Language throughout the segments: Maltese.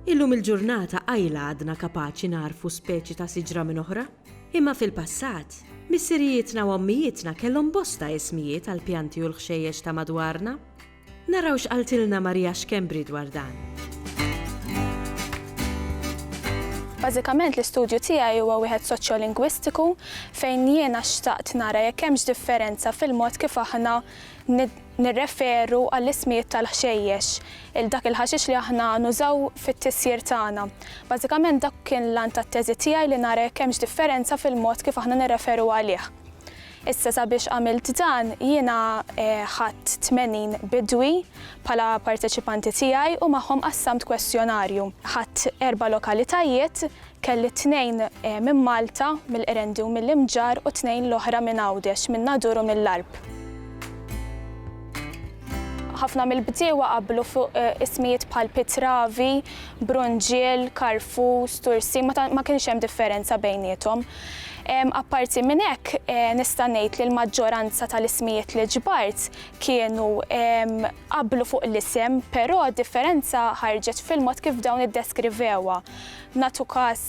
Illum il-ġurnata qajla għadna kapaċi narfu speċi ta' siġra minn oħra, imma fil-passat, missirijietna u ommijietna kellhom bosta ismijiet għal pjanti u l-ħxejjex ta' madwarna. Naraw x'qaltilna Maria Schembri dwar dan. Bażikament l-istudju tiegħi huwa wieħed soċjolingwistiku fejn jiena xtaqt nara jekk hemmx differenza fil-mod kif aħna nirreferu għall-ismijiet tal-ħxejjex, il-dak il-ħaxix li aħna nużaw fit-tisjir tagħna. Bażikament dak kien l-għan tat-teżi tiegħi li nara jekk hemmx differenza fil-mod kif aħna nirreferu għalih. Issa sabiex għamilt dan jiena ħadt 80 bidwi bħala parteċipanti tiegħi u magħhom qassamt kwestjonarju. Ħadt erba' lokalitajiet, kelli tnejn minn Malta, mill-Qrendi u mill-Imġarr u tnejn l-oħra minn Għawdex, min-Nadur u mill-Għarb. Ħafna mill-bdiewa qablu fuq ismijiet bħal Pitravi, Brunġiel, Karfus, Tursi, ma kienx hemm differenza bejniethom. Apparti minn hekk, nista' ngħid li l-maġġoranza tal-ismijiet li ġbart kienu qablu fuq l-isem, però d-differenza ħarġet fil-mod kif dawn iddeskrivewha. Nagħtu każ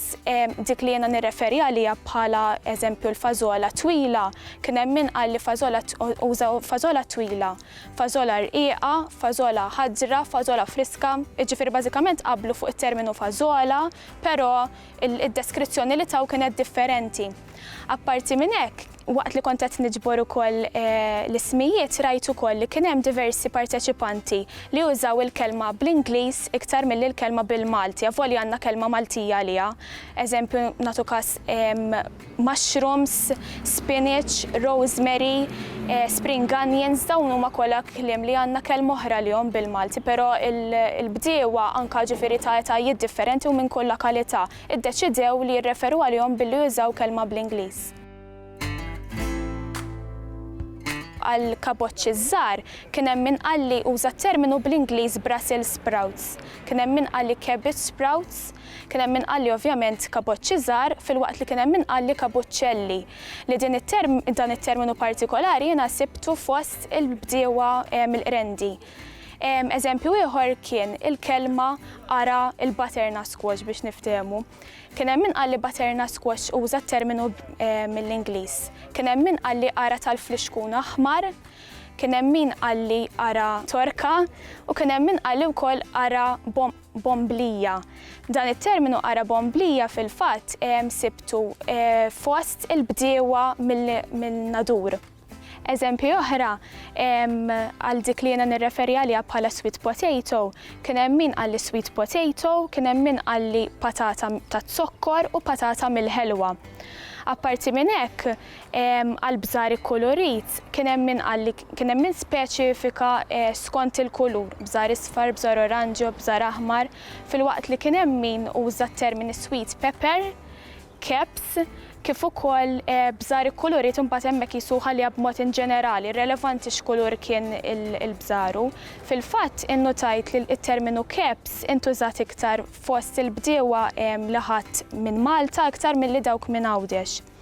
dik li jiena nirreferi għaliha bħala eżempju l-fażola twila, kien hemm min qal li fażola uża fażola twila, fażola rqiqa, fażola ħadra, fażola friska, jiġifieri bażikament qablu fuq it-terminu fażola, però id-deskrizzjoni li taw kienet differenti. Apparti minn hekk, waqt li kont qed niġbor ukoll l-ismijiet rajt ukoll li kien hemm diversi parteċipanti li użaw il-kelma bl-Ingliż iktar milli l-kelma bil-Malti, avolja għandna kelma Maltija għaliha. Eżempju, nagħtu każ, mushrooms, spinach, rosemary, spring onions, dawn huma kollha kliem li għandna kelma oħra għalihom bil-Malti però l-bdiewa anke ġifieri ta' etajiet differenti u minn kull lakalità ddeċidew li jirreferu għalihom billi jużaw kelma bl-Ingliż. Għall-kaboċċi ż-żgħar kien hemm min qal li uża t-terminu bl-Ingliż Brussels sprouts, kien hemm min qal li cabbage sprouts, Kien hemm min qalli ovvjament kaboċċi żgħar filwaqt li kien hemm min qalli kabuċċelli, li din it-term, dan it-terminu partikolari jiena sibtu fost il-bdiewa mill-Qrendi. Eżempju ieħor kien il-kelma ara l-butternut squash biex niftehmu. Kien hemm min qalli butternut squash uża t-terminu mill-Ingliż. Kien hemm min qalli ara tal-flixkun aħmar, kien hemm min qalli ara torka u kien hemm min qalli wkoll ara bomblija. Dan it-terminu qara bomblija fil-fatt sibtu fost il-bdiewa mill-Nadur. Eżempji oħra għal dik li jiena nirreferi għaliha bħala sweet potato, kien hemm min qalli sweet potato, kien hemm min qalli patata taz-zokkor u patata mill-ħelwa. Apparti minn hekk, Għall-bżar ikkulurit, kien hemm min qal li kien hemm min speċifika skont il-kulur, bżar isfar, bżar oranġjo, bżar aħmar, filwaqt li kien hemm min uża t-termini sweet pepper, kebs, kif ukoll bżar ikkulurit imbagħad hemmhekk qisu ħaliha b'mod inġenerali, irrelevanti x'kulur kien il-bżar u, fil-fatt, innutajt li t-terminu kebs intużat iktar fost il-bdiewa li ħadt minn Malta iktar milli dawk minn Għawdex.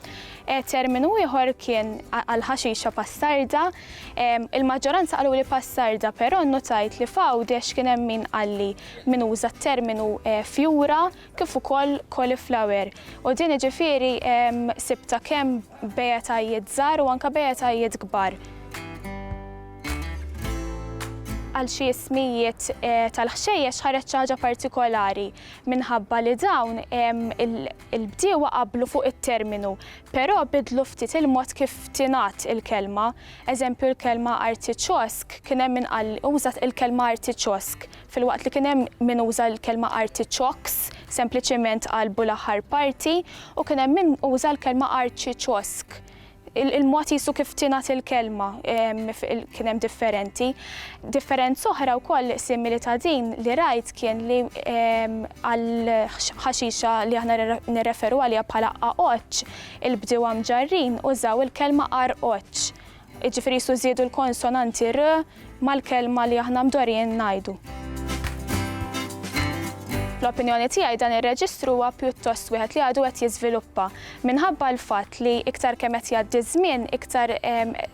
Terminu ieħor kien għall-ħaxixa Passarda. Il-maġġoranza qaluli Passarda, però nnutajt li f'Għawdex kien hemm min qalli min uża t-terminu fjura kif ukoll cauliflower. U din jiġifieri sibtha kemm b'etajiet żgħar u anke b'etajiet kbar. Għal xi ismijiet tal-ħxejjex ħareġ xi ħaġa partikolari. minħabba li dawn il-bdiewa qablu fuq it-terminu, però bidlu ftit il-mod kif tingħad il-kelma. Eżempju, l-kelma artiċosk, kien hemm min qal użat il-kelma artiċosk, filwaqt li kien hemm min uża l-kelma artiċoks, sempliċement qalbu l-aħħar parti, u kien hemm min uża l-kelma arċiċosk. Il-mod qisu kif tingħad il-kelma kien hemm differenti. Differenza oħra wkoll simili ta' din li rajt kien li għal ħaxixa li aħna nirreferu għaliha bħala qaqoċċ, il-bdiewa Mġarrin użaw il-kelma qarqoċċ. Jiġifieri qisu żiedu l-konsonanti r mal-kelma li aħna mdorrijin ngħidu. Fl-opinjoni tiegħi dan ir-reġistru huwa pjuttost wieħed li għadu qed jiżviluppa minħabba l-fatt li iktar kemm qed jgħaddi ż-żmien iktar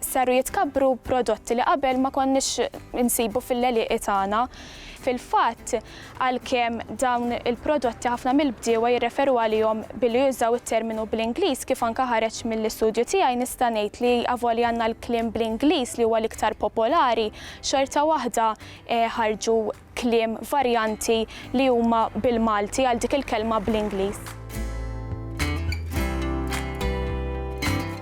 saru jitkabbru prodotti li qabel ma konniex insibu fil-leliqi tagħna. Fil-fatt, għalkemm dawn il-prodotti ħafna mill-bdiewa jirreferu għalihom billi jużaw it-terminu bl-Ingliż, kif anke ħareġ mill-istudju tiegħi, nista' ngħid li avolja għandna l-kliem bl-Ingliż li huwa l-iktar popolari, xorta waħda ħarġu kliem varjanti li huma bil-Malti għal dik il-kelma bl-Ingliż.